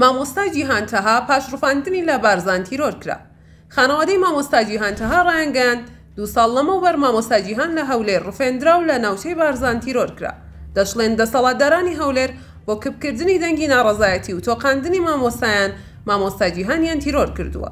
مامۆستا جیهان تەها پاش ڕفاندنی لە بارزان تیرۆر کرا. خانەوادەی مامۆستا جیهان تەها ڕایانگەیاند، دوو ساڵ لەمەوبەر مامۆستا جیهان لە هەولێر ڕفێندرا و لە ناوچەی بارزان تیرۆر کرا. دەشڵێن دەسەڵاتدارانی هەولێر بۆ کپکردنی دەنگی ناڕەزایەتی و تۆقاندنی مامۆستایان، مامۆستا جیهانیان تیرۆر کردووە.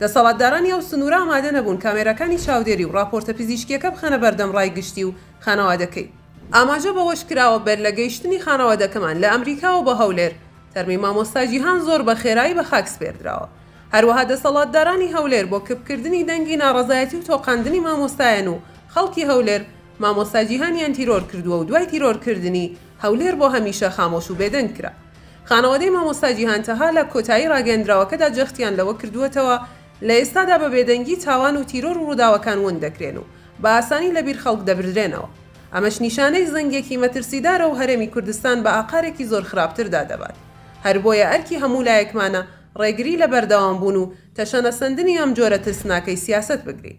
دەسەڵاتدارانی ئەو سنوورە ئامادە نەبوون کامێراکانی چاودێری و ڕاپۆرتە پزیشکییەکە بخەنە بەردەم ڕای گشتی و خانەوادەکەی. ئاماژە بەوەشکراوە، بەر لە گەیشتنی خانەوادەکەمان لە ئەمریکاوە بە هەولێر، تەرمی مامۆستا جیهان زۆر بە خێرایی بە خاک سپێردراوە. هەروەها دەسەڵاتدارانی هەولێر بۆ کپکردنی دەنگی ناڕەزایەتی و تۆقاندنی مامۆستایان و خەڵکی هەولێر، مامۆستا جیهانیان تیرۆر کردووە و دوای تیرۆرکردنی، هەولێر بۆ هەمیشە خامۆش و بێدەنگ کرا. خانەوادەی مامۆستا جیهان تەها لە کۆتایی ڕاگەیەندراوەکەدا جەختیان لەوە کردووەتەوە، لە ئێستادا بە بێدەنگی تاوان و تیرۆر و ڕووداوەکان ون دەکرێن و بە ئاسانی لە بیر خەڵک دەبردرێنەوە. ئەمەش نیشانەی زەنگێکی مەترسیدارە و هەرێمی کوردستان بە ئاقارێکی زۆر خراپتردا دەبات. هەر بۆیە ئەرکی هەموو لایەکمانە ڕێگری لە بەردەوامبوون و تەشەنەسەندنی ئەم جۆرە ترسناکەی سیاسەت بگرین.